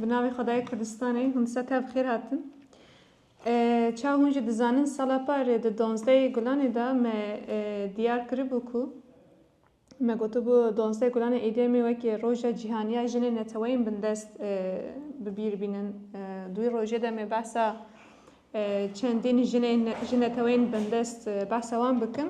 Bi navê Xwedayê Kurdistanê hûn ser tev xêr hatin. Çawa hûn jî dizanin sala par di donzdeyê Gulanê de me diyar kiribû ku me gotibû donzdeh Gulanê êdî em ê wekî Roja Cîhaniya Jinên Neteweyên Bindest bi bîr bînin. Dûyî rojê de me behsa çendîn jinên ji neteweyên bindest behsa wan bikin.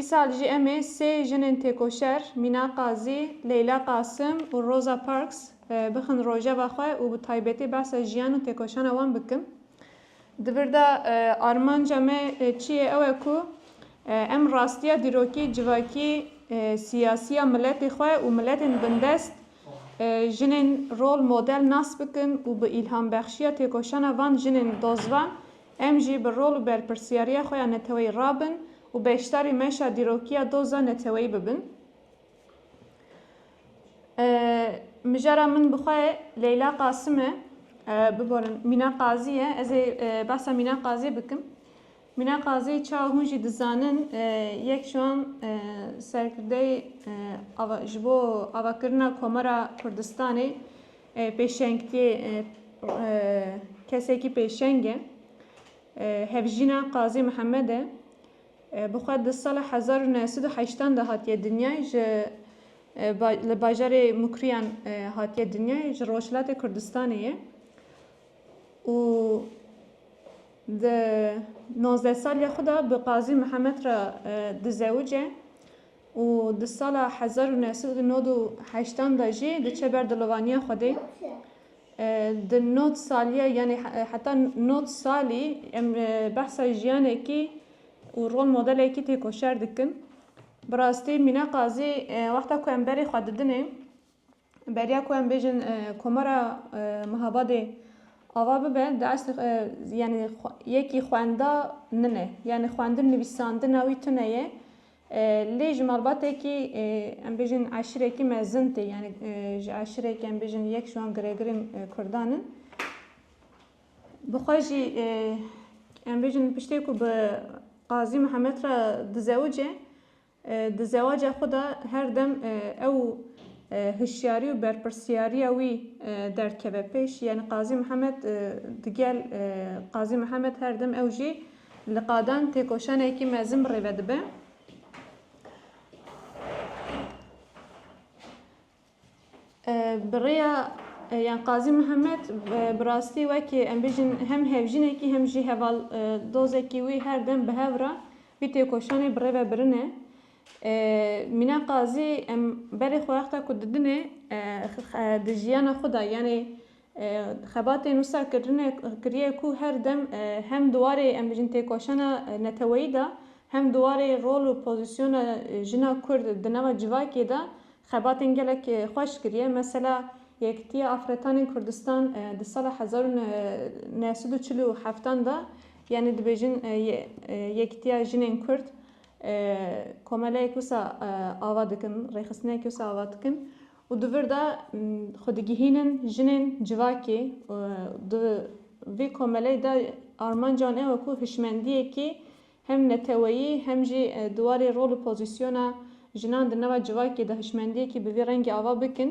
Îsal jî em ê sê jinên têkoşer Mîna Qazî, Leyla Qasim û Rosa Parks bixin rojeva xwe û bi taybetî behsa jiyan û têkoşana wan bikin. Di vir de armanca me çi ye ew e ku em rastiya dîrokî, civakî, siyasî ya miletê xwe û miletên bindest jinên rol model nas bikin û bi îlhambexşîya têkoşana van jinên dozvan Em jî bi rol û berpirsyariya xwe ya neteweyî rabin û beşdarî meşa dîrokiya doza neteweyî bibin. Mijara min bi xwe Leyla Qasim e, biborin Mîna Qazî ye. Ez ê behsa Mîna Qazî bikim. Mîna Qazî çawa hûn jî dizanin yek ji wan serkirdeyê ji bo avakirina Komara Kurdistanê Pêşengtiyê kesekî pêşeng e. Hevjîna Qazî Mihemed e. Bi xwe di sala hezar û neh sed û heştan de hatiye dinyayê ji li bajarê Mukriyan hatiye dinyayê ji Rojhilatê Kurdistanê ye û di nozdeh saliya xwe de bi Qazî Mihemed re dizewice. û di sala hezar û neh sed û nod û heştan de jî diçe ber dilovaniya Xwedê. Di nod saliya yanî heta nod salî em behsa jiyanekî û rol modelekî têkoşer dikin. Bi rastî Mîna Qazî wexta ku em berê xwe didinê, Beriya ku em bêjin Komara Mihabadê ava bibe di eslê yanî yekî xwenda min e. Yanî xwendin nivîsandina wî tune ye. Lê ji malbatekî em bêjin eşirekî mezin tê. Yanî ji eşirekî em bêjin yek ji wan giregirên Kurdan in. Bi xwe jî em bêjin piştê ku bi Qazî Mihemed re dizewice Di zewaca xwe de her dem ew û hişyarî û berpirsiyariya wî derdikeve pêş, yanî Qazî Mihemed digel Qazî Mihemed her dem ew jî li qadan têkoşanekî mezin rêve dibe. Bi rêya yan Qazî Mihemed bi rastî wekî em bijîn hem hevjînekî hem jî heval dozekî wî her dem bi hev re vî têkoşanê bi rê ve birine. Mîna Qazî em berê xwe wexta ku didinê di jiyana xwe de yanê Xebatê Nûsa kirine kiriye ku her dem hem di warê em bijin têkoşana neteweyî de hem di warê rol û pozîsyona jina Kurd di nava civakê de xebatên gelek xweş kiriye. Mesela Yekîtiya Afretanên Kurdistan di sala hezar û neh sed û çil û heftan de yanî dibêjin Yekîtiya Jinên Kurd komeleyek wisa ava dikin, rêxistineyekê wisa ava dikin. Û di vir de xwe digihînin jinên civakê. Di vî komeleyê de armanca wan e wekû hişmendiyekî hem neteweyî hem jî di warê rol û pozîsyona jinan di nava civakê de hişmendiyekî bi vî rengî ava bikin.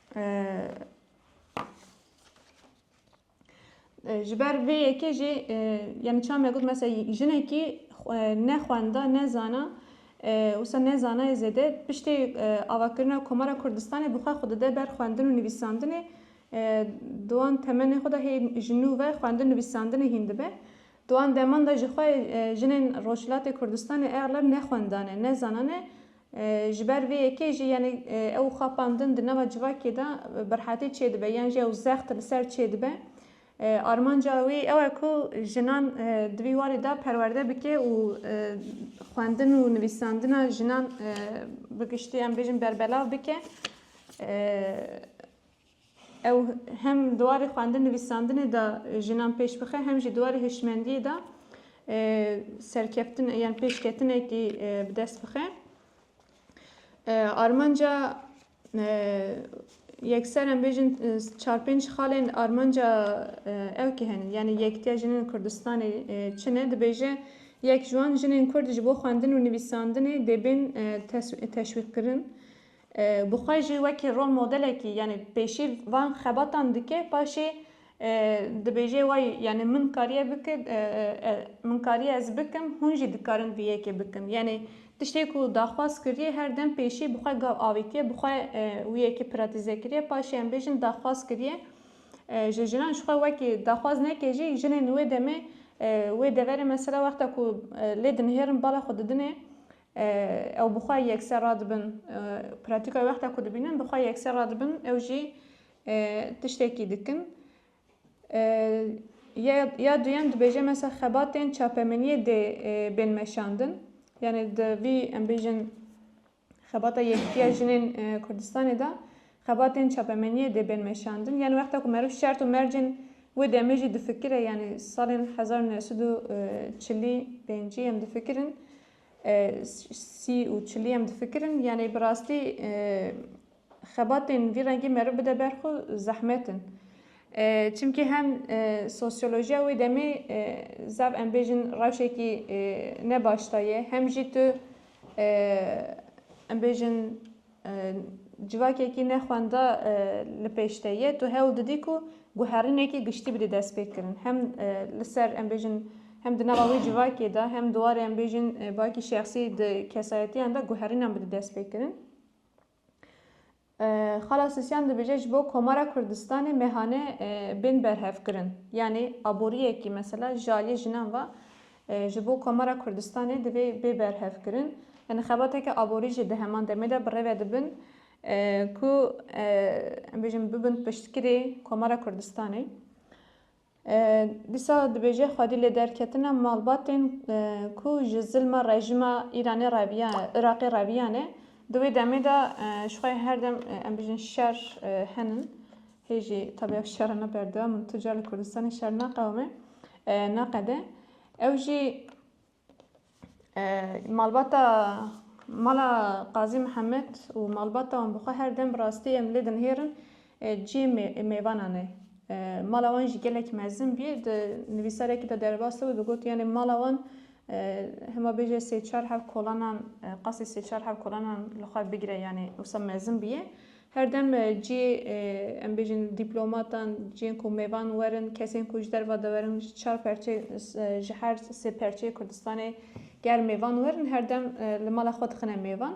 ji ber vê yekê jî ya min çame got mesela jinekî ne xwenda ne zana wisa ne zanayê zêde piştê avakirina Komara Kurdistanê bi xwe xwe dide ber xwendin û nivîsandinê dowan temenê xwe de hê ji nû ve xwendin nivîsandinê hîn dibe dowan deman de jixwe jinên Rojhilatê Kurdistanê egleb ne xwendane ne zanane Ji ber vê yekê jî yanî ew xapandin di nava civakê de birhatî çêdibe yan jî ew zext li ser çêdibe. Armanca wî ew e ku jinan di vî warî de perwerde bike û xwendin û nivîsandina jinan bi giştî em bêjin berbelav bike. Ew hem di warê xwendin nivîsandinê de jinan pêş bixe hem jî di warê hişmendiyê de serkeftin yan pêşketinekî bi dest bixe. Armanca yekser em bêjin çar pênc xalên armanca ew kî henin yanî yektiya jinên Kurdistanê çi ne dibêje yek ji wan jinên Kurd ji bo xwendin û nivîsandinê dê bên teşwîqkirin. Bi xwe jî wekî rol modelekî yanî pêşî van xebatan dike paşê dibêje wayî yanî min kariye bikir min kariye ez bikim hûn jî dikarin vî yekê bikin yanî tiştê ku daxwaz kiriye her dem pêşî bi xwe gav avîtiye bi xwe wî yekê piratîze kiriye paşê em bêjin daxwaz kiriye ji jinan ji xwe wekî daxwaz neke jî jinên wê demê wê deverê mesela wexta ku lê dinihêrin bala xwe didinê Ew bi xwe yekser radibin. Pratîkayê wexta ku dibînin bi xwe yekser radibin ew jî tiştekî dikin. Ya duyem dibêje mesela xebatên çapemeniyê dê bên meşandin. Yani di vî em bêjin xebata yekitiya jinên Kurdistanê de xebatên çapemeniyê dê bên meşandin. Yani wexta ku meriv şert û mercên wê demê jî difikire yani salên hezar û new sed û çil û pêncî em difikirin. Sî û çilî em difikirin yanê bi rastî xebatên vî rengî meriv bide ber xwe zehmet in. Çimkî hem sosyolojiya wê demê zaf em bêjin rewşekî ne baş de ye hem jî tu em bêjin Civakekî ne xwenda li pêş te ye, tu hewl didî ku guherînekî giştî bidî destpêkirin. Hem li ser em bêjin hem di nava wê civakê de hem di warê em bêjin baki şexsî di kesayetiyan de guherînan bidî destpêkirin. Xala Sisyan dibêje ji bo Komara Kurdistanê mehane bên berhevkirin. Yanî aboriyekî mesela ji aliyê jinan ve Ji bo Komara Kurdistanê divê bê berhevkirin yani xebateke aborî jî di heman demê de bi rê ve dibin ku em bêjin bibin piştgirê Komara Kurdistanê. Dîsa dibêje xwedî lê derketina malbatên ku ji zilma rejîma Îranê reviya Iraqê reviyane di wê demê de ji xwe herdem em bêjin şer henin Hê jî tabi ev şer e ne berdewam in tu car li Kurdistanê şer naqewime naqede. Ew jî malbata mala Qazî Mihemed û malbata wan bi xwe her dem bi rastî em lê dinihêrin cihê mêvanan e. Mala wan jî gelek mezin bî di nivîsarekî de derbas dibû digot yanê mala wan hema bêje sê çar hev kolanan qasî sê çar hev kolanan li xwe bigire yanê wisa mezin bûye. Her dem cihê em bêjin dîplomatan, cihên ku mêvan werin, kesên ku ji derve de werin ji çar perçe ji her sê perçeyê Kurdistanê ger mêvan werin her dem li mala xwe dixine mêvan.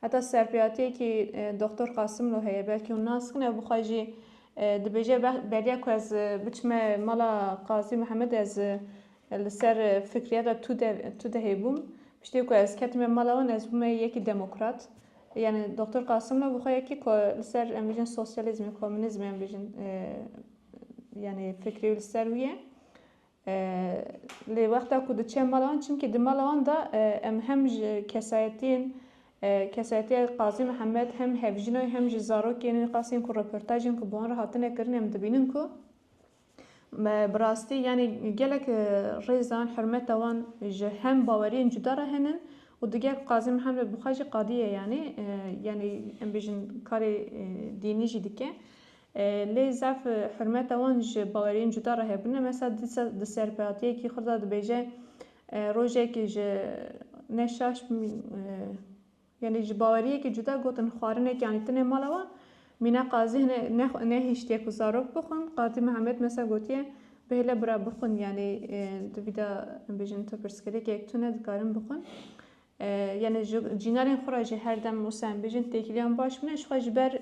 Heta serpêhatiyekî Doktor Qasimlo heye belkî hûn nas kin ew bi xwe jî dibêje beriya ku ez biçime mala Qazî Mihemedê ez li ser fikriyata Tudehê bûm. Piştî ku ez ketime mala wan ez bûme yekî demokrat. Yanî Doktor Qasimlo bi xwe yekî ku li ser em bijin sosyalîzmê, komûnîzmê em bijin yanî fikrê wî li ser wî ye. Lê wexta ku diçe mala wan çimkî di mala wan de em hem ji kesayetiyên kesayetiya Qazî Mihemed hem hevjîna wî hem jî zarokên wî qasên ku reportajên ku bi wan re hatine kirin em dibînin ku Bi rastî yanî gelek rêzan, hurmeta wan ji hem baweriyên cuda re hene û digere ku Qazî Mihemed bi xwe jî qadî ye yanî yanî em bêjin karê dînî jî dike. Lê zaf hurmeta wan ji baweriyên cuda re hebe ne. Mesela dîsa di serpêhatiyekî xwe de dibêje rojek ji ne şaş Yanî ji baweriyekî cuda gotin xwarinekî anî tune mala wan. Mîna Qazî hene nehiştiye ku zarok bixwin. Qazî Mihemed mesa gotiye, Bihêle bira bixwin yanî tu vî de em bêjin tu pirsgirêkek tune dikarin bixwin. Yanî ji cînarên xwe re jî her dem wisa em bêjin têkiliyan baş bûne. Jixwe ji ber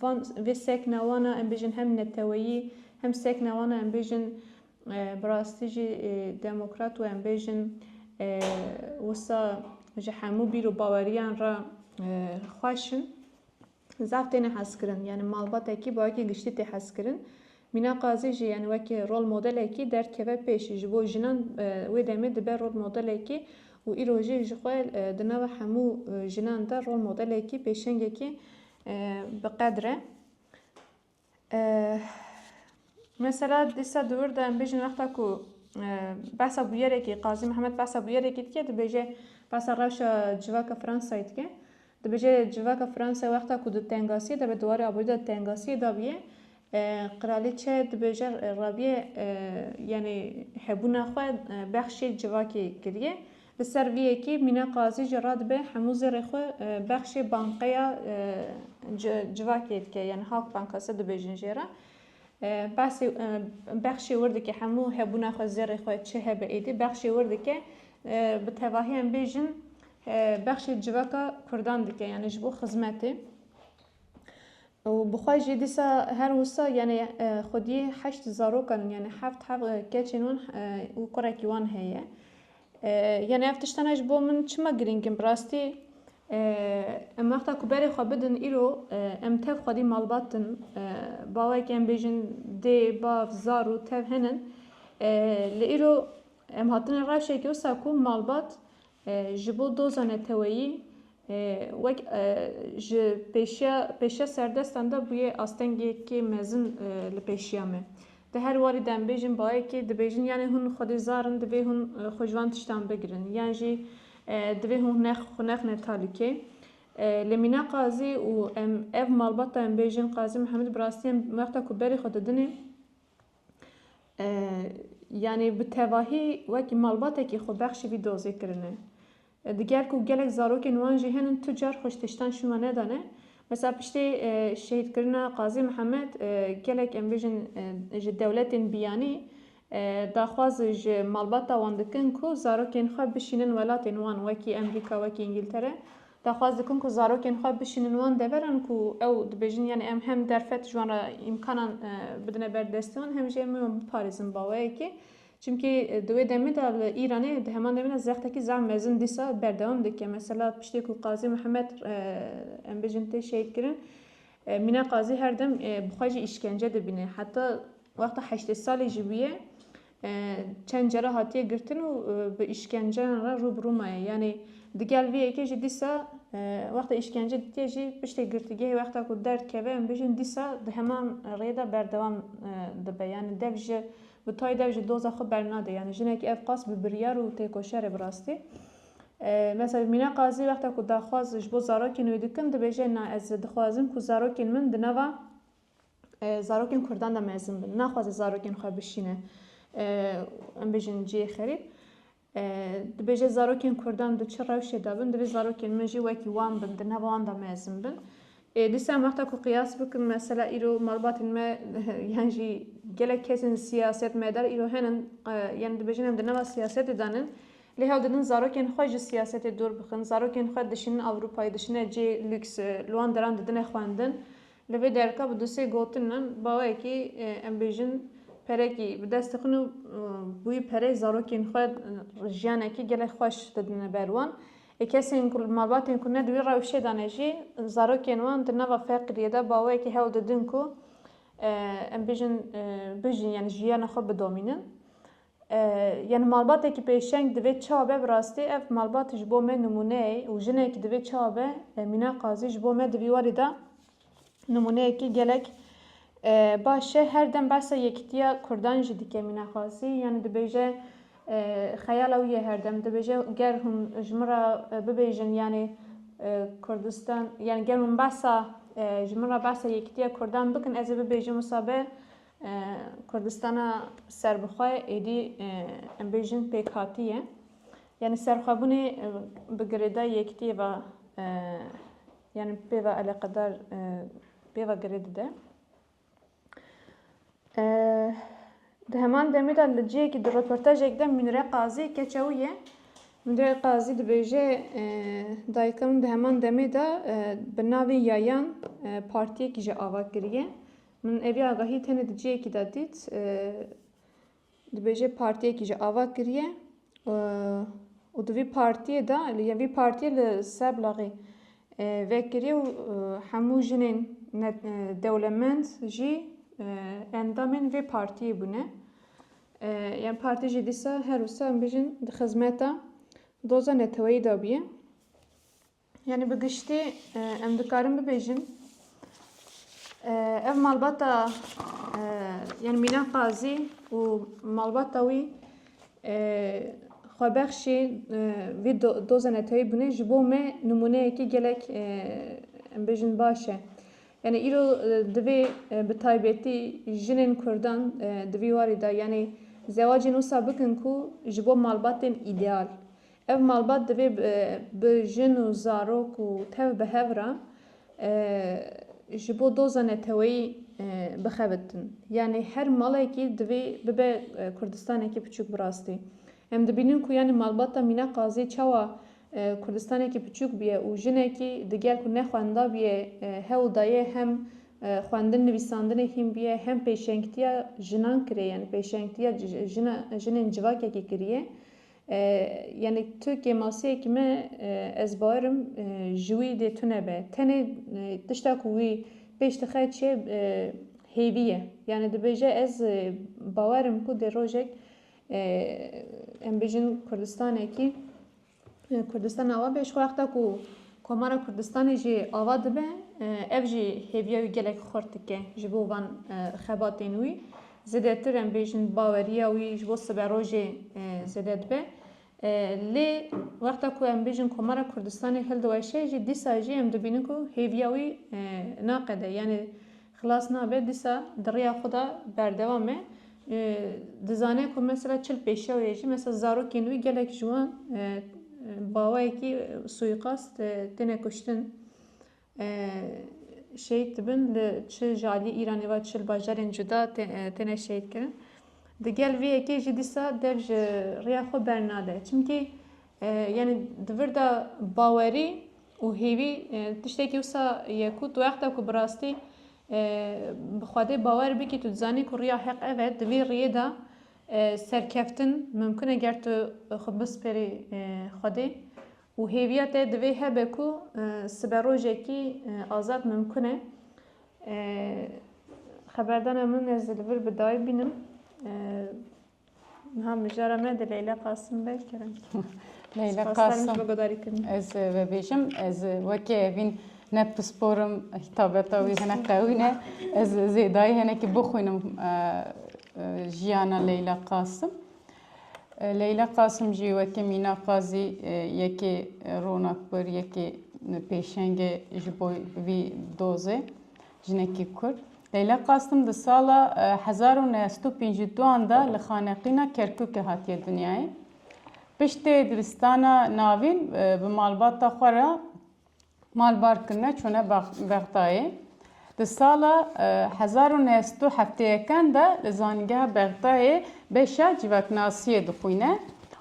van vê sekna wan a em bêjin hem neteweyî hem sekna wan a em bêjin Bi rastî jî demokrat û em bêjin wisa ji hemû bîr û baweriyan re xweş in. Zaf têne hezkirin. Yanî malbatekî bi wekî giştî tê hezkirin. Mîna Qazî jî yanî wekî rol modelekî derdkeve pêş. Ji bo jinan wê demê dibe rol modelekî û îro jî ji xwe di nava hemû jinan de rol modelekî pêşengekî bi qedr e. Mesela dîsa di wir de em bêjin wexta ku behsa bûyerekî Qazî Mihemed behsa bûyerekî dike dibêje behsa rewşa civaka Fransayê dike. Dibêje civaka Fransayê wexta ku di tengasiyê de be di warê aborî de di tengasiyê de bûye qiralîçe dibêje rabûye yanî hebûna xwe bexşî civakê kiriye. Li ser vî yekê Mîna Qazî jî radibe hemû zêrê xwe bexşê bankeya civakê dike yani Halkbankası dibêjin jê re. Behsê bexşê wir dike hemû hebûna xwe zêrê xwe çi hebe êdî bexşê wir dike bi tevahî em bêjin bexşê civaka kurdan dike yani ji bo xizmetê. û bi xwe jî dîsa her wisa yanê xwedî heşt zarokan yanê heft hev keçên wan û kurekî wan heye. Yanê ev tiştana ji bo min çima girîng in bi rastî em wexta ku berê xwe bidin îro em tev xwedî malbat in bawek em bêjin dê, bav, zar û tev hene lê îro em hatine rewşekê wisa ku malbat Ji bo doza neteweyî wek ji pêşiya pêşiya serdestan de bûye astengekê mezin li pêşiya me. Di her warî de em bêjin bayekê dibêjin yanê hûn xwedî zar in divê hûn xwe ji van tiştan bigirin yan jî divê hûn hunex xwe nexne talîkê. Lê mîna qazî û em ev malbata em bêjin qazî Mihemed bi rastî em wexta ku berê xwe didinê, Yanî bi tevahî wekî malbatekî xwe bexşî vî dozê kirine. Diger ku gelek zarokên wan jî henin tu car xwe ji tiştan şûna nedane. Mesela piştê şehîdkirina Qazî Mihemed gelek em bêjin ji dewletên biyanî daxwaz ji malbata wan dikin ku zarokên xwe bişînin welatên wan wekî Emrîka, wekî Îngîltere. Daxwaz dikin ku zarokên xwe bişînin wan deveran ku ew dibêjin yanî em hem derfet ji wan re îmkanan bidine ber destê wan hem jî em ê wan biparêzin baweyekê. Çimkî di wê demê de li Îranê di heman demê de zextekî zaf mezin dîsa berdewam dike. Mesela piştê ku Qazî Mihemed em bêjin tê şehîdkirin Mîna Qazî her dem bi xwe jî îşkence dibîne. Heta wexta heştê salî jî bûye Çend cara hatiye girtin û bi îşkenceyan re rû bi rû maye. Yanî digel vê yekê jî dîsa wexta îşkence ditiye jî piştê girtîgehê wexta ku derdikeve em bijîn dîsa di heman rê de berdewam dibe. Yanî dev ji bi tayê dev ji doza xwe bernade. Yanî jinekî ev qas bi biryar û têkoşer e bi rastî. Mesela Mîne Qazî wexta ku daxwaz ji bo zarokên wê dikin dibêje na ez dixwazim ku zarokên min di nava Zarokên Kurdan de mezin bin. Naxwaze zarokên xwe bişîne em bêjin ciyê xerîb. Dibêje zarokên Kurdan di çi rewşê de bin, divê zarokên min jî wekî wan bin, di nava wan de mezin bin. Dîsa em wexta ku qiyas bikin mesela îro malbatên me yan jî gelek kesên siyaset medar îro henin yan dibêjin em di nava siyasetê de nin. Lê hewl didin zarokên xwe ji siyasetê dûr bixin. Zarokên xwe dişînin Ewropayê, dişine cê lûks, li wan deran didine xwendin. Li vê derke bi du sê gotinan bawekî em bêjin perekî bi dest dixin û bûyî pereyê zarokên xwe jiyanekî gelek xweş didine ber wan. Ê kesên ku malbatên ku ne di wî rewşê de ne jî zarokên wan di nava feqiriyê de bawekî hewl didin ku em bêjin bijîn yanî jiyana xwe bidomînin. Yani malbatekî pêşeng divê çawa be bi rastî ev malbat ji bo me nimûneyê û jinekî divê çawa be Mîna Qazî ji bo me di vî warî de nimûneyekî gelek baş e. Her dem behsa yekitiya kurdan jî dike Mîna Qazî yani dibêje xeyala wî ye her dem dibêje ger hûn ji min re bibêjin yani Kurdistan yani ger hûn behsa ji min re behsa yekitiya kurdan bikin ez ê bibêjim wisa be Kurdistana serbixwe êdî em bêjin pêkhatî ye. Yanî serxwebûnê bi girêdayî yektîyê ve yanî pê ve eleqedar pê ve girê dide. Di heman demê de li cihekî di röportajek de Münire Qazî keçewî ye. Münire Qazî dibêje dayika min di heman demê de bi navê Yayan partiyekî jî ava kiriye. Min evî agahî tenê di ciyekî de dît. Dibêje partiyekî ji ava kiriye û di vî partiyê de ya vî partiyê li Seblaxê vekiriye û hemû jinên dewlemend jî endamên vê partiyê bûne. Yan partî jî dîsa her wisa em bijin di xizmeta doza neteweyî de bûye. Yanî bi giştî em dikarin bibêjin ev malbata yanî Mîna Qazî û malbata wî xwebexşî vî doza netewî bûne ji bo me nimûneyekî gelek em bêjin baş e. Yani îro divê bi taybetî jinên Kurdan di vî warî de yanî zewacên wisa bikin ku ji bo malbatên îdeal. Ev malbat divê bi jin û zarok û tev bi hev re ji bo doza neteweyî bixebitin. Yanî her malekî divê bibe Kurdistanekî piçûk bi rastî. Em dibînin ku yanî malbata Mîna Qazî çawa Kurdistanekî piçûk bûye û jinekî diger ku ne xwenda bûye hewl daye hem xwendin nivîsandinê hîn bûye hem pêşengtiya jinan kirê yanî pêşengtiya jinên civakekî kiriye Yanî tu kêmasiyekî me ez bairim ji wî dê tune be. Tenê tişta ku wî pêş dixe çi ye hêvî ye. Yanî dibêje ez bawerim ku dê rojek em bêjin Kurdistanekî Kurdistan awa be ji xwe wexta ku Komara Kurdistanê jî ava dibe ev jî hêviya wî gelek xurt dike ji bo van xebatên wî. Zêdetir em bêjin baweriya wî ji bo sibe rojê zêde dibe. Lê wexta ku em bêjin Komara Kurdistanê hildiweşe jî dîsa jî em dibînin ku hêviya wî naqede yanî xilas nabe dîsa di riya xwe de berdewam e. Dizane ku mesela çil pêşewê jî mesela zarokên wî gelek ji wan bawayekî suîqast têne kuştin. Şehîd dibin li çi ji aliyê Îranê ve çi li bajarên cuda têne şehîd kirin. Di gel vê yekê jî dîsa dev ji rêya xwe bernade. Çimkî yani di vir de bawerî û hêvî tiştekî wisa ye ku tu wexta ku bi rastî bi Xwedê bawer bikî tu dizanî ku rêya heq ev e di vê rêyê de serkeftin mimkun e ger tu xwe bispêrî Xwedê Û hêviya te divê hebe ku siberojekî azad mimkun e. Xeberdana min ez li vir bi dayê bînim. Niha mijara me di Leyla Qasim be kirin. Leyla Qasim. Ez vebêjim, ez wekî evîn ne pisporim hitabeta wî hinek qewî ne. Ez zêdayî hinekî bixwînim jiyana Leyla Qasim. Leyla Qasim jî wekî Mîna Qazî yekê ronak bir, yekê pêşengê ji bo vî dozê jinekî Kurd. Leyla Qasim di sala hezar û neh sed û pêncî û duan de li xaneqîna Kerkûkê hatiye dinyayê. Piştê diristana navîn bi malbata xwe re Malbar Kime çûne Bexdayê. Di sala hezar û neh sed û hefteyekan de li Zanîngeha Bexdayê beşa Civaknasiyê dixwîne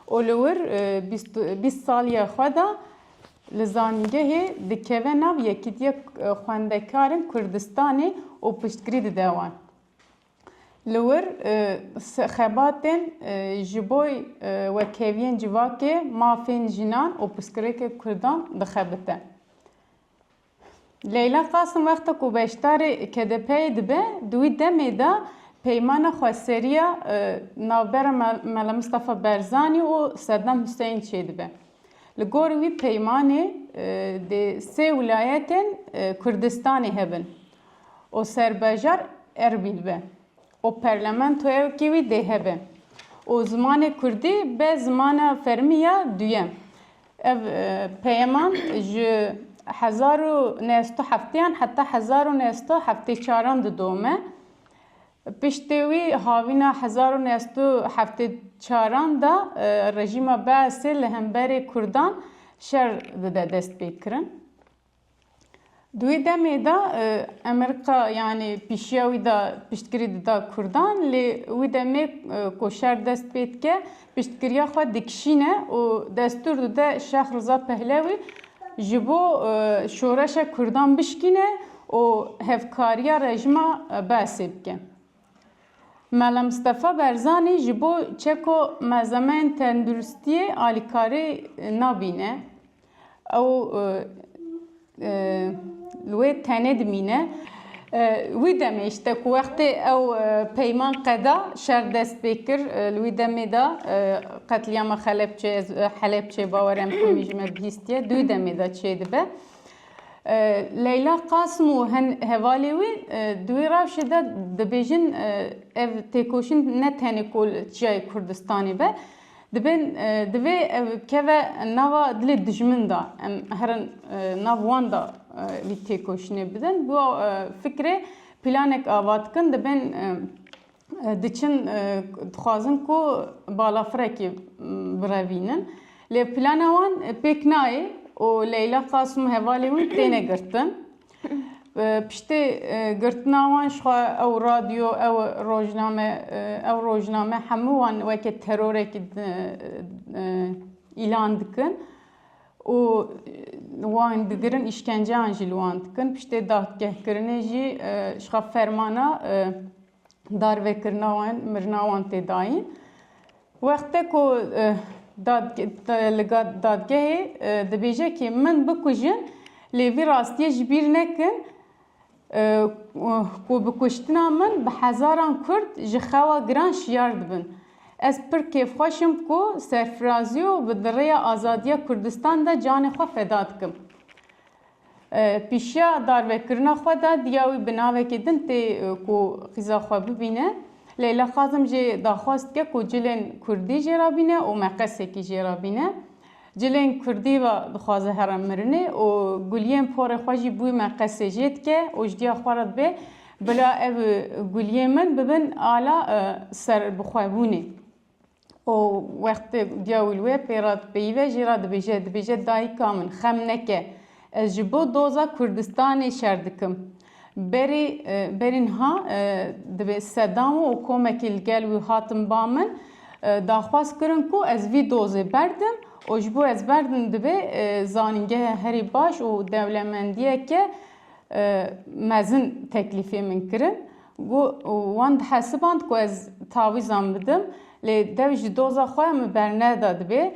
û li wir bîst saliya xwe de li zanîngehê dikeve nav Yekîtiya Xwendekarin Kurdistanê û piştgirî dide wan. Li wir xebatên ji bo wekheviyen civakê, mafên jinan û pirsgirêkên kurdan dixebite. Leyla Qasim wexta ku beşdarê KDP'ê dibe, di wî demê de peymana xweseriya navbera Mela Mistefa Berzanî û Sedam Huseyîn çêdibe. Li gorî wî peymanê dê sê wilayetên Kurdistanê hebin. û serbajar Erbîl be û perlementoyekî wî dê hebe û zimanê kurdî be zimana fermî ya duyem. Ev peyeman ji hezar û neh sed û hefteyan heta hezar û neh sed û heftê çaran didome. Piştê wî havîna hezar û neh sed û heftê çaran de rejîma Beesê li hemberê kurdan şer dide destpêkirin. Di wê demê de Emerika yanî pîşiya wî de piştgirî dida Kurdan lê wî demê ku şer dest pê dike piştgiriya xwe dikişîne û destûr dide Şex Riza Pehlewî ji bo şoreşa Kurdan bişkîne û hevkariya rejima Beesê bike. Mela Mistefa Berzanî ji bo çeko mezemeyên tenduristiyê alîkarî nabîne. Ew li wê tenê dimîne. Wî demê îşte ku wextê ew peyman qeda şer dest pê kir, li wî demê de qetlîama Xelepçe ez Helepçe bawere em komî ji me bihîstiye, di wî demê de çê dibe. Leyla Qasim û hin hevalê wî di wî rewşê de dibêjin ev têkoşîn ne tenê ku li çiyayê Kurdistanê be, Dibên divê ev keve nava dilê dijmin de em herin nav wan de vî têkoşînê bidin. Bi fikrê plânek ava dikin dibên diçin dixwazin ku balafirekê birevînin. Lê plana wan pêk nayê û Leyla Qasim û hevalên wî têne girtin. Piştî girtina wan jixwe ew radyo ew rojname ew rojname hemû wan weke terorekî îlan dikin û wan digirin îşkenceyan jî li wan dikin piştê dadgehkirinê jî jixwe fermana darvekirina wan, mirina wan tê dayîn. Wexte ku li dadgehê dibêje kî min bikujin lê vî rastiyê ji bîr nekin ku bi kuştina min bi hezaran Kurd ji xewa giran şiyar dibin. Ez pir kêfxweş im ku serfirazî û bi di rêya azadiya Kurdistan de canê xwe feda dikim. Pîşiya darvekirina xwe de diya wî bi navekî din tê ku qîza xwe bibîne. Leyla Kazim jê daxwaz dike ku cilên kurdî jê re bîne û meqesekî jê re bîne. Cilên kurdî re dixwaze here mirinê û guliyên porê xwe jî bûyî meqesê jê dike û ji diya xwe re dibe bila ev guliyên min bibin ala serbixwebûnê. û wextê diya wî li wê pê re dipeyive jî re dibêje, dibêje dayika min xem neke ez ji bo doza Kurdistanê şer dikim. Berî berî niha divê sedam û komekî li gel wî hatin ba min daxwaz kirin ku ez vî dozê berdim û ji bo ez berdim divê zanîngehe herî baş û dewlemendiyeke mezin teklîfê min kirin. Wan dihesiband ku ez tavîzan bidim lê dev ji doza xwe min berneda dibê.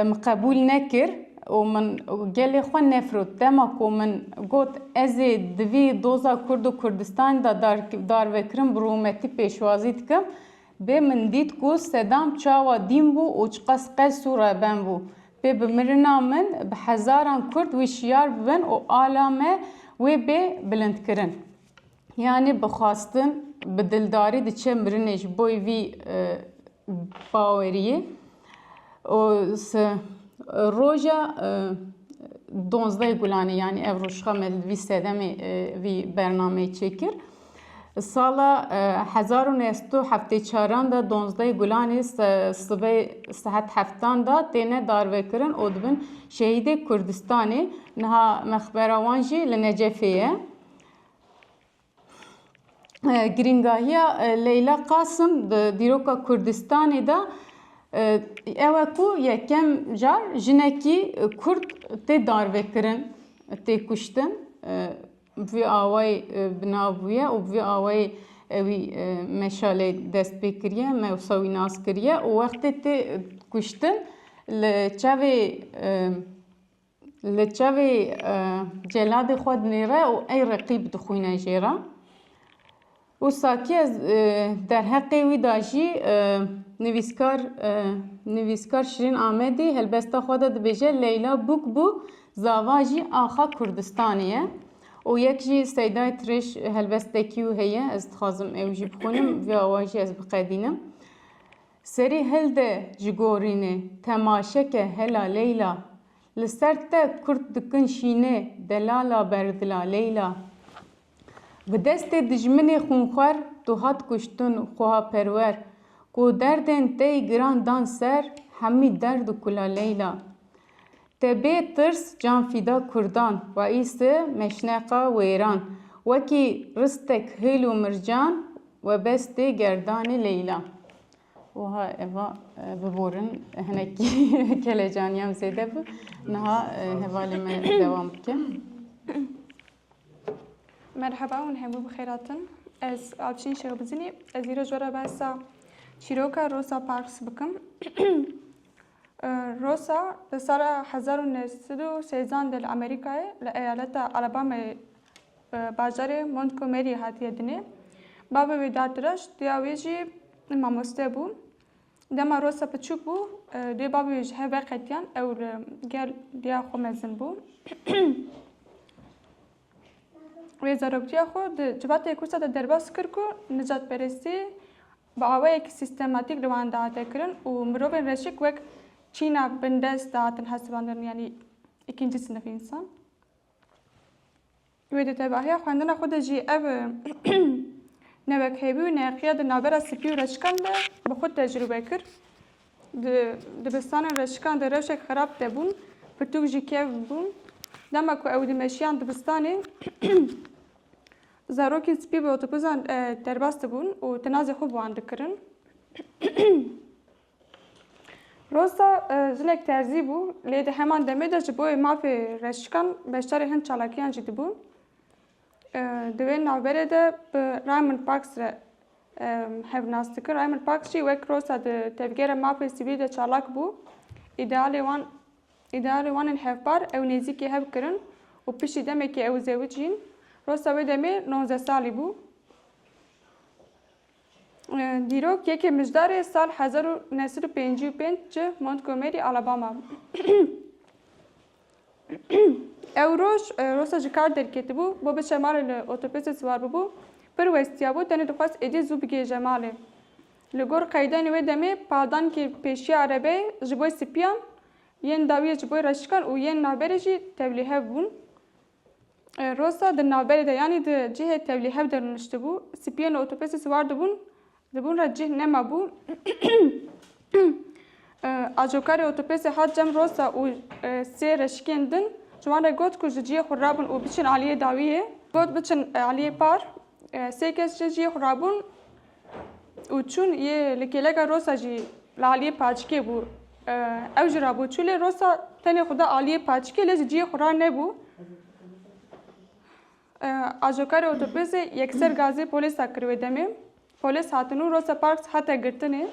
Min qebûl nekir û min gelê xwe nefirot. Dema ku min got ez ê di vî doza Kurd û Kurdistanê de darvekirin bi rûmetî pêşwazî dikim, bê min dît ku Sedam çawa dîn bû û çiqas qels û reben bû. Pê bi mirina min bi hezaran Kurd wî şiyar bibin û ala me wê bê bilindkirin. Yanî bi xwastin, bi dildarî diçe mirinê ji boî vî baweriyê û roja donzdeh gulanê yanî ev rojxa me vî sedemê vî bernameyê çêkir. Sala hezar û neh sed û heftê çaran de donzdeh gulanê sibê sehet heftan de têne darvekirin û dibin şehîdê Kurdistanê. Niha mexbera wan jî li Necefê ye. Girîngahiya Leyla Qasim di dîroka Kurdistanê de ew e ku yekem car jinekî Kurd tê darvekirin, tê kuştin. Bi vî awayî bi nav bûye û bi vî awayî wî meşalê dest pê kiriye, me wisa wî nas kiriye û wextê tê kuştin li çavê Li çavê celadê xwe dinêre û ey reqîb dixwîne jê re. Û sakî ez derheqê wî de jî nivîskar nivîskar Şirîn Amedî helbesta xwe de dibêje Leyla bûk bû zava jî axa Kurdistanê ye. Û yek jî Seydayê Tirêj helbestekî wî heye ez dixwazim ew jî bixwînim vê awa jî ez biqedînim. Serî hilde ji gorînê, temaşeke hela Leyla. Li ser te kurt dikin şînê, delala berdila Leyla. Bi destê dijminê xûnxwer, tu hat kuştin xwehaperwer. Ku derdên te yî giran dan ser, hemî derd û kula Leyla. Te bê tirs can fîda kurdan wa îsti meşneqa wêran wekî ristek hil û mircan we bestê gerdanê leyla. Wiha eva biborin hinek kelecaniyam zêde bi niha hevalê me dewam bike. Merheba hûn hemû bi xêratin. Ez Avşîn Şêxbizinî ez îro ji we re behsa çîroka Rosa Parks bikim. Rosa di sala hezar û neh sed û sêzan de li Amerîkayê li eyaleta Alabamayê bajarê Montgomeryê hatiye dinê. Bavê wî Dartiraş dêya wî jî mamoste bû. Dema Rosa piçûk bû dê bavê wî ji hev veqetiyan ew li gel dêya xwe mezin bû. Wê zaroktiya xwe di civatê Kûsa de derbas kir ku nijadperestî bi awayekî sîstematîk li wan dihate kirin û mirovên reşik wek çîna bindest dihatin hesibandin yanî îkîncî sinifî însan. Wê di tevahiya xwendina xwe de jî ev newekhêvî û neqiya di navbera spî û reşikan de bi xwe tecrûbe kir. Di dibistanên reşikan de rewşek xerab tê bûn, pirtûk jî kevn bûn. Dema ku ew dimeşiyan dibistanê Zarokên spî bi otobuzan derbas dibûn û tinazê xwe bi wan dikirin. Rosta jinek terzî bû lê di heman demê de ji bo wê mafê reşikan beşdarê hin çalakiyan jî dibûn. Di wê navberê de bi Raymond Parks re hev nas dikir. Raymond Parks jî wek Rosta di tevgera mafê sivîl de çalak bû. Îdealê wan Îdarê wan ên hevpar ew nêzîkê hev kirin û piştî demekê ew zewij jîn. Rosta wê demê nozdeh salî bû. Dîrok yekê mijdarê sal hezar û neh sed û pêncî û pênc ji Montgomery, Alabama. Ew roj rosta ji kar derketibû, bo biçe malê li otobusê siwar bûbû. Pir westiyabû, tenê dixwest êdî zû bigihêje malê. Li gor qeydanê wê demê peldankê pêşiya erebeyê ji bo sipiyan, yên dawiyê ji bo reşikan û yên navberê jî tevlîhev bûn. Rosa di navberê de yanî di cihê tevlîhev de rûniştibû. Sipiyên li otobusê siwar dibûn, di bin re cih nemabû. Ajokarê otobusê hat cem Rosa û sê reşikên din ji wan re got ku ji cihê xwe rabin û biçin aliyê dawiyê. Got biçin aliyê par. Sê kes ji cihê xwe rabûn û çûn yê li kêleka Rosa jî li aliyê paçikê bû. Ew ji rabû çû lê Rosa tenê xwe da aliyê paçikê lê ji ciyê xwe ra nebû. Ajokarê otopêzê yekser gazê polîsa kir wê demê. Polîs hatin û Rosa Parks hate girtinê.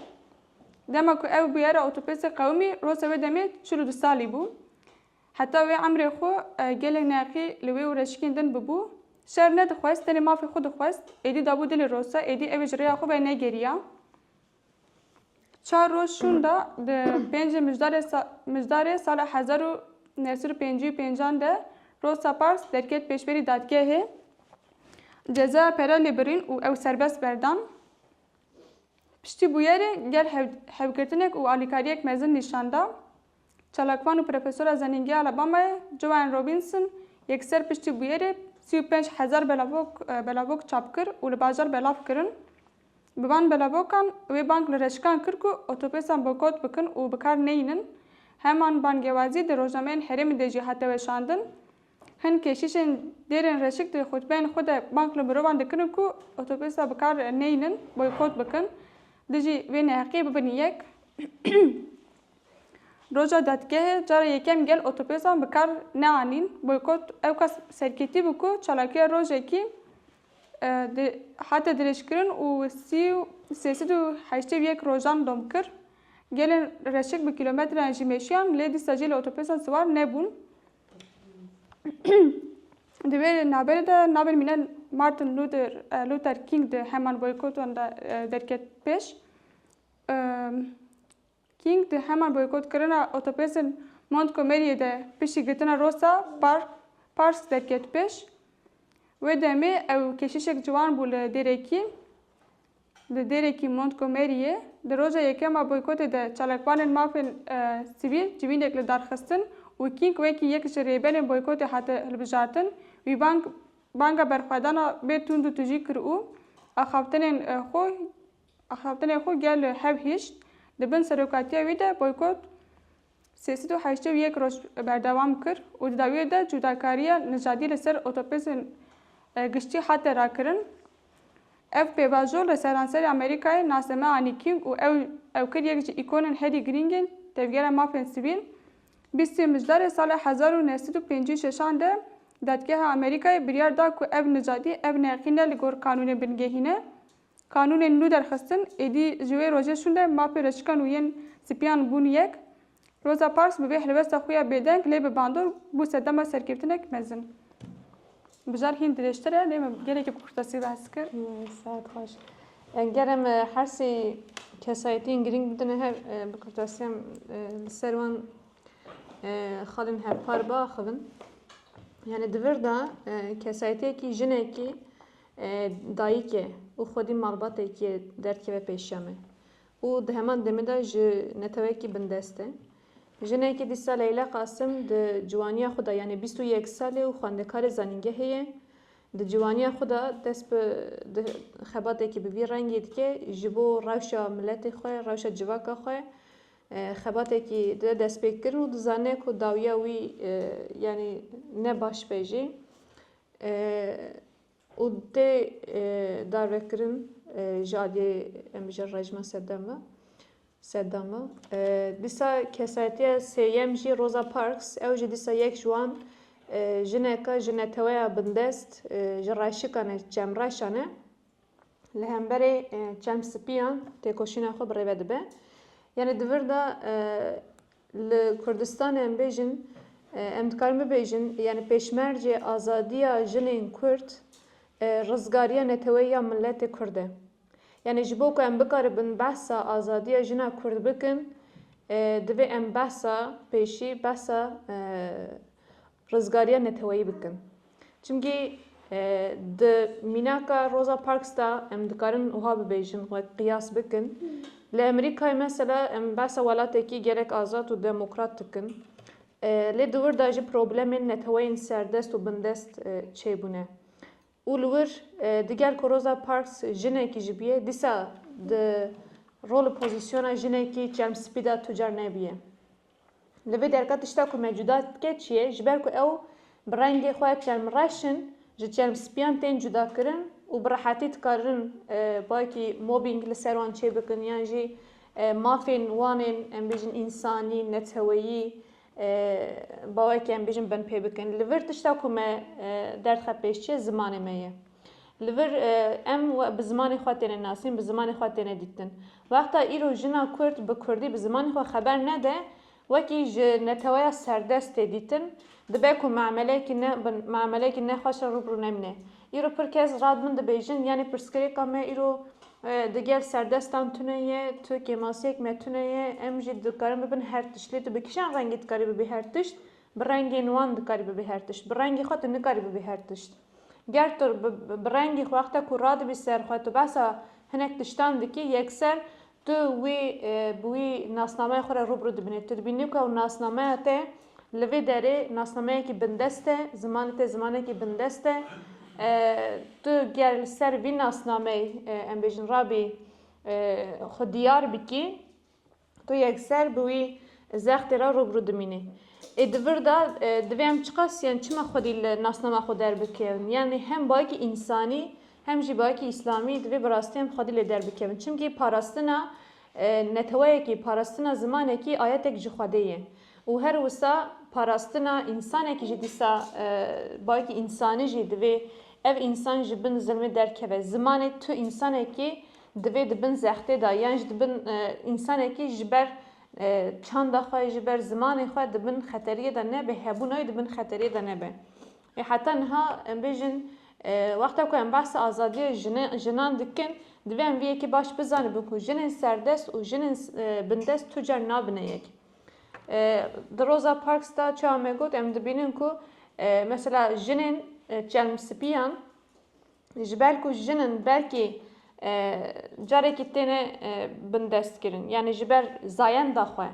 Dema ku ew bûyera otopêzê qewimî Rosa wê demê çil û du salî bû. Heta wê emrê xwe gelê neqî li wê û reşikên din bibû. Şer nedixwest, tenê mafê xwe dixwest. Êdî dabû dilê Rosa, êdî ew ê ji rêya xwe ve negeriya. Çar roj şûn da, di pêncê mijdarê mijdarê sala hezar û neh sed û pêncî û pêncan de Rosa Parks derket pêşberî dadgehê. Cezaya pere lê birîn û ew serbest berdan. Piştî bûyerê gel hev hevgirtinek û alîkariyek mezin nîşan da. Çalakvan û profesora Zenîngeha Alabamayê Joanne Robinson yê ku ser piştî bûyerê sî û pênc hezar belavok belavok çap kir û li bajar belav kirin, bi van belavokan wê bang li reşikan kir ku otopêsan boykot bikin û bikar neyînin. Heman bangewazî di rojnameyên herêmê de jî hate weşandin. Hin keşîşên dêrên reşik di xutbeyên xwe de bang li mirovan dikirin ku otopêsa bikar neyînin, boykot bikin, dijî vê neheqiyê bibin yek. Roja dadgehê cara yekem gel otopêsan bi kar neanîn, boykot ewka serketî bû ku çalakiya rojekî hate dirêjkirin û sê sed û heştê û yek rojan dom kir. Gelên reşik bi kîlometreyan jî meşiyan lê dîsa jî li otopêsan siwar nebûn. Di vê naberê de navên mîna Martin Luther King di heman boykotan de derket pêş. King di heman boykotkirina otopêsên Montgomeryê de piştî girtina Rosa Park Parks derket pêş. Wê demê ew keşişek ciwan bû li Dêrekî li Dêrekî Montgomeryê. Di roja yekem a boykotê de çalakvanên mafên sivîl civînek li dar xistin û King wekî yek ji rêberên boykotê hate hilbijartin. Wî bang banga berxwedana bê tund û tujî kir û axaftinên xwe Axaftinê xwe gel li hev hişt, di bin serokatiya wî de boykot sê sed û heştê û yek roj berdewam kir û di dawiyê de cudakariya nijadî li ser otopêsên giştî hate rakirin. Ev pêvajo li seranserê Amerîkayê naseme anî King û ew ew kir yek ji îkonên herî girîng ên tevgera mafên sivîl. Bîst sê Mijdarê sala hezar û neh sed û pêncî û şeş an de Dadgeha Amerîkayê biryar da ku ev nijadî ev neqîne li gor qanûnê bingehîne Qanûnên nû derxistin, êdî ji wê rojê şûnde mafê reşikan û yên sipiyan bûn yek. Roza Parks bi vê helwesta xwe ya bêdeng lê bi bandor bû sedema serkeftinek mezin. Bijar hîn dirêjtir e lê min gelekî bi kurtasî behs kir. Saet xweş. Ger em hersê kesayetiyên girîng bidine hev bi kurtasî em li ser wan xalên hevpar biaxivin. Yani di vir de kesayetiyekî jinekî Dayîkê û xwedî malbatekî derkeve pêşiya me û di heman demê de ji netewekî bindest e. Jinekê dîsa Leyla Qasim di ciwaniya xwe de yanê bîst û yek sal e û xwendekarê zanîngehê ye. Di ciwaniya xwe de dest bi xebatekî bi vî rengî dike ji bo rewşa miletê xwe, rewşa civaka xwe xebatekî dide destpêkirin û dizane ku dawiya wî yanî ne baş be jî û tê darvekirin ji aliyê em bijin rejima Seddama Seddama. Dîsa kesayetiya sêyem jî Rosa Parks ew jî dîsa yek ji wan jineka ji neteweya bindest ji reşikan e Çemreşan e. li hemberê çem spiyan têkoşîna xwe bi rêve dibe. Yanê di vir de li Kurdistanê em bêjin em dikarin bibêjin yanê pêşmercê azadiya jinên Kurd rizgariya neteweyî ya miletê Kurd e. Yanê ji bo ku em bikaribin behsa azadiya jina Kurd bikin divê em behsa pêşî behsa rizgariya neteweyî bikin. Çimkî di mînaka Rosa Parks de em dikarin wiha bibêjin wek qiyas bikin, li Amerîkayê mesela em behsa welatekî gelek azad û demokrat dikin. Lê di wir de jî problemên neteweyên serdest û bindest çêbûne. Û li wir di gel ku Rosa Parks jinekî jî bîye, dîsa di rol û pozîsyona jinekî çermspî de tu car nebîye. Li vê derka tişta ku me cuda dike çi ye? Ji ber ku ew bi rengê xwe çermreş in, ji çermspiyan tên cudakirin û bi rehetî dikarin bayekî mobbing li ser wan çêbikin yan jî mafên wan ên em bêjin însanî, neteweyî bawekî em bêjin binpê bikin. Li vir tişta ku me derdxe pêş çi ye? Zimanê me ye. Li vir em bi zimanê xwe têne nasîn, bi zimanê xwe têne dîtin. Wexta îro jina Kurd bi Kurdî bi zimanê xwe xeber nede, wekî ji neteweya serdest tê dîtin, dibe ku mameleyekî ne mameleyekî nexweş re rû bi rû nemîne. Îro pir kes rad min dibêjin, yanî pirsgirêka me îro di gel serdestan tune ye, tu kêmasiyek me tune ye, em jî dikarin bibin her tişt. Lê tu bi kîjan rengî dikarî bibî her tişt? Bi rengên wan dikarî bibî her tişt. Bi rengê xwe tu nikarî bibî her tişt. Ger tu bi rengî xwe wexta ku radibî ser xwe tu behsa hinek tiştan dikî yekser tu wî bi wî nasnameya xwe re rûbirû dibînî. Tu dibînî ku ew nasnameya te li vê derê nasnameyekî bindest e, zimanê te zimanekî bindest e. Tu ger li ser vî nasnameyê em bêjin rabî xwe diyar bikî, Tu yekser bi wî zextê re rûbirû dimînî. Ê di vir de divê em çiqas yan çima xwedî li nasnama xwe derbikevin. Yanî hem bayekî însanî hem jî bayekî îslamî divê bi rastî em xwedî lê derbikevin. Çimkî parastina neteweyekî, parastina zimanekî ayetek ji Xwedê ye. Û her wisa parastina însanekî jî dîsa bayekî însanî jî divê ev însan ji bin zilmê derkeve. Zimanê tu însanekî Divê di bin zextê de yan ji di bin însanekî ji ber çanda xwe, ji ber zimanê xwe di bin xeteriyê de nebe, hebûna wî di bin xeteriyê de nebe. Ê heta niha em bêjin wexta ku em behsa azadiyê jinan dikin divê em vê yekê baş bizanibin ku jinên serdest û jinên bindest tu car nabine yek. Di Rosa Parks de çawa me got em dibînin ku mesela jinên çelmspiyan, ji ber ku jin in belkî carekî têne bindestkirin yanî ji ber zayenda xwe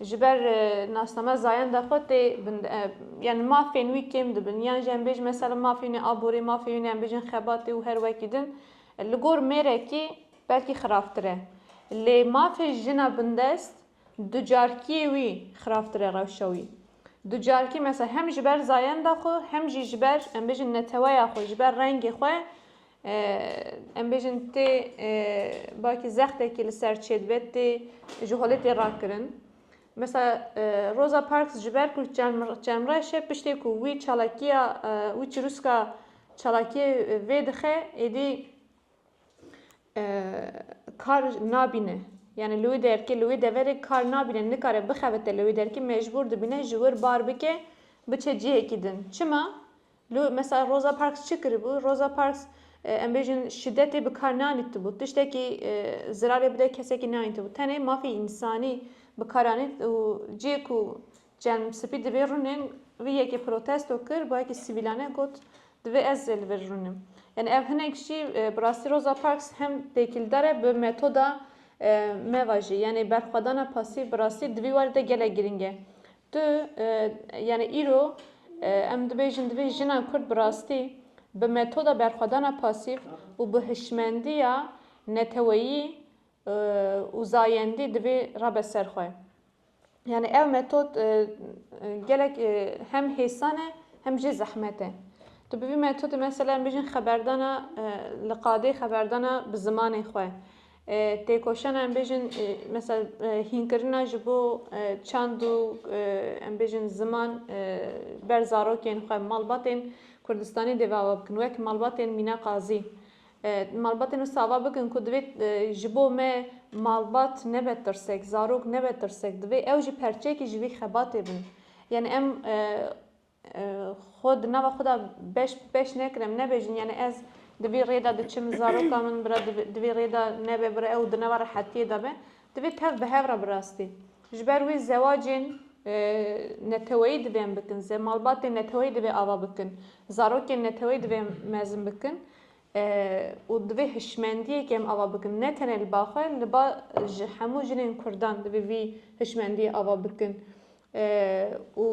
ji ber nasname zayenda xwe tê yani mafên wî kêm dibin yan jî em bêjin mesela mafê wî aborê mafê wî em bêjin xebatê û her wekî din li gor mêrekî belkî xirabtir e lê mafê jina bindest Ducarkiyê wî xirabtir e rewşa wî. Ducarkî mesela hem ji ber zayenda xwe hem jî ji ber em bêjin neteweya xwe ji ber rengê xwe em bêjin tê belkî zextekî li ser çêdibe tê ji holê tê rakirin. Mesela Rosa Parks ji ber ku çemreş e piştê ku wî çalakiya wî çirûska çalakiyê vê dixe êdî kar nabîne. Yani li wî derkê li wî deverê kar nabîne nikare bixebite li wî derkê mecbûr dibîne ji wir bar bike biçe cihekî din. Çima? Li mesela Rosa Parks çi kiribû? Rosa Parks em bêjin şidetê bi kar nanîtibû. Tiştekî zirarê bide kesekî nanîtibû. Tenê mafê însanî bi kar anît û cihê ku Çem Spî di vê rûnên vî yekê protesto kir, bi yekê sivîlane got, Divê ez jî li vir rûnim. Yanî ev hinek jî bi rastî Rosa Parks hem têkîldar e bi metoda me ve jî. Yanî berxwedana pasîv bi rastî di vî warî de gelek girîng e. Tu yanî îro em dibêjin divê jina Kurd bi rastî bi metoda berxwedana pasîv û bi hişmendiya neteweyî û zayendî divê rabe ser xwe. Yani ev metod e, gelek e, hem hêsan e hem jî zehmet e. Tu bi vî metodê mesela em bêjin xeberdana e, li qadê xeberdana bi zimanê xwe. Têkoşana em bêjin mesela hînkirina ji bo çand û em bêjin ziman ber zarokên xwe malbatên Kurdistanê dêvawa bikin wek malbatên Mîna Qazî. Malbatên wisa ava bikin ku divê ji bo me malbat nebe tirsek, zarok nebe tirsek, divê ew jî perçeyekî ji vî xebatê bin. Yanî em xwe di nava xwe de beş bi beş nekin, em nebêjin yanî ez di vî rêde diçim, zaroka min bira di vî rêde nebe, bira ew di nava rehetiyê de be. Divê tev bi hev re bi rastî. Ji ber wê zewacên neteweyî divên bikin, malbatên neteweyî divê ava bikin, zarokên neteweyî divê mezin bikin û divê hişmendiyekê em ava bikin. Ne tenê li ba xwe, li ba ji hemû jinên kurdan divê vî hişmendiyê ava bikin û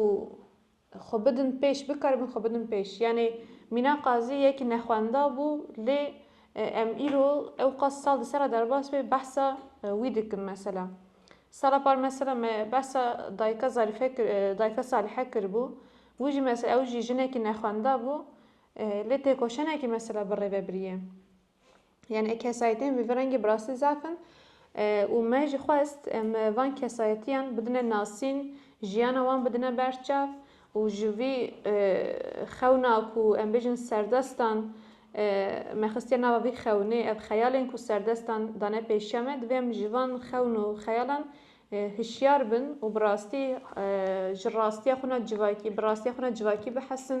Xwe bidin pêş, bikaribin xwe bidin pêş. Yanê Mîna Qazî yek nexwenda bû lê em îro ewqas sal di ser a derbas bê behsa wî dikin. Mesela sala par mesela me behsa dayika Zarîfe kir, dayika Salihe kiribû. Wî jî mesela ew jî jinekî nexwenda bû lê têkoşenekî mesela bi rê ve biriye. Yani e kesayetên vê rengê bi rastî zaf in û me jî xwest em van kesayetiyan bidine nasîn, jiyana wan bidine ber çav û ji vî xewna ku em bêjin serdestan me xistiye nava vî xewnê, ev xeyalên ku serdestan dane pêşiya me divê em ji van xewn û xeyalan hişyar bin û bi rastî ji rastiya xwe na civakî bi rastiya xwe na civakî bihesin,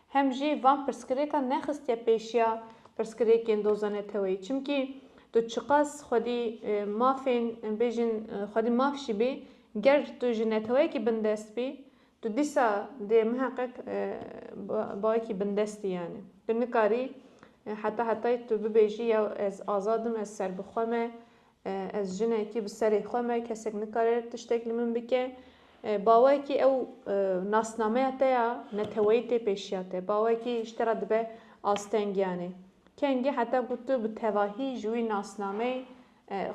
hem jî van pirsgirêkan nexistiye pêşiya pirsgirêkên doza neteweyî çimkî tu çiqas xwedî mafên bêjin xwedî maf jî bî ger tu ji neteweyekî bindest bî tu dîsa dê miheqeq bawekî bindest î yanî tu nikarî heta hetayî tu bibêjî ya ez azad im ez serbixwe me Ez jinekî bi serê xwe me, kesek nikare tiştek li min bike. Ba wekî ew nasnameya te ya neteweyî tê pêşiya te. Ba wekî ji te re dibe astengiyanê. Kengî heta ku tu bi tevahî ji wî nasnameyê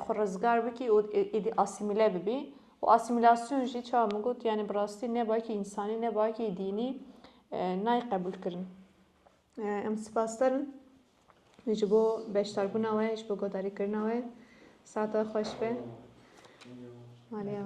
xwe rizgar bikî û êdî asîmîle bibî. Û asîmîlasyon jî çawa min got yanî bi rastî ne baki însanî ne baki dînî nayê qebûlkirin. Em sipasdar in. ji bo beşdarbûna we, ji bo guhdarîkirina we. Sata xweş be.